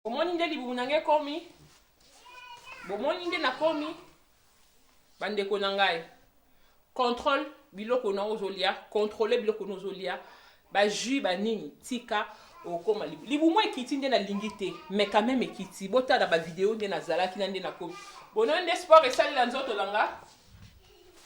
bomoni nde libumu na ngai ekomi bomoni nde nakomi bandeko na ngai contrôle biloko na ozolia contrôle biloko na ozolia bajus banini tika okoma libumu ekiti nde nalingi te mais quand même ekiti botala bavideo nde nazalaki na nde nakomi bonoyo nde sport esalela nzoto na nga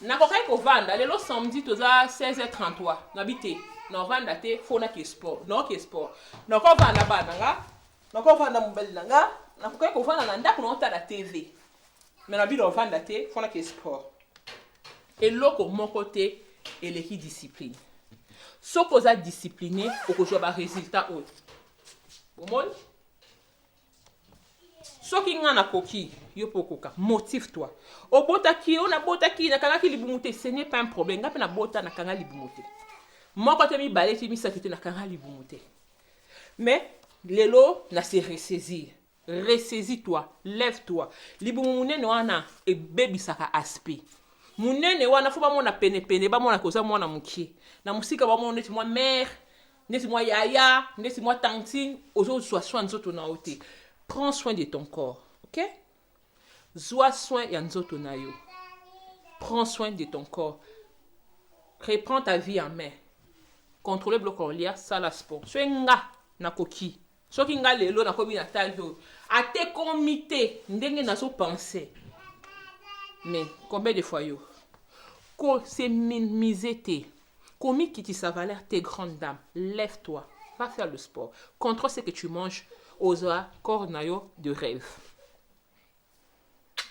Nakokaki kovanda lelo samedi toza 16h33 nabi te naovanda te fo nake sport naoke sport nakovanda bana nga nakovanda mobali na nga nakokaki kovanda na ndako naotala tv me nabi naovanda te fo nake sport eloko moko te eleki discipline soki oza discipline okozwa baresultat oyo bomoni soki nga nakoki yo mpe okoka motive toi obotaki yo nabotaki nakangaki libumu te ce n'est pas un problème nga mpe nabota nakanga libumu te moko te mibale te misato te nakanga libumu te mais lelo na se ressaisir ressaisis toi lève toi libumu monene wana ebebisaka aspect monene wana fo bamona penepene bamona koza mwana mokie na mosika bamona neti mwa mare ndeti mwa yaya ndeti mwa tantine ozo zwa soin nzoto na yo te prends soin de ton corps ok zwa soin ya nzoto na yo prends soin de ton corps reprends ta vie en main contrôler biloko ya kolia sala sport soki nga nakoki Soki nga lelo na komi na taille oyo ate komi te ndenge nazo pense mais combien de fois yo ko se minimiser te komikitisa valeur te grande dame lève toi va faire le sport contrôle ce que tu manges oza corps na yo de rêve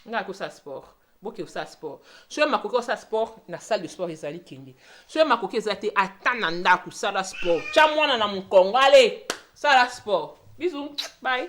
ngai akosala sport boke osala sport soki makoki osala sport na salle de sport ezali kende soki makoki eza te ata na ndako sala sport tya mwana na mokongo ale sala sport bizu bai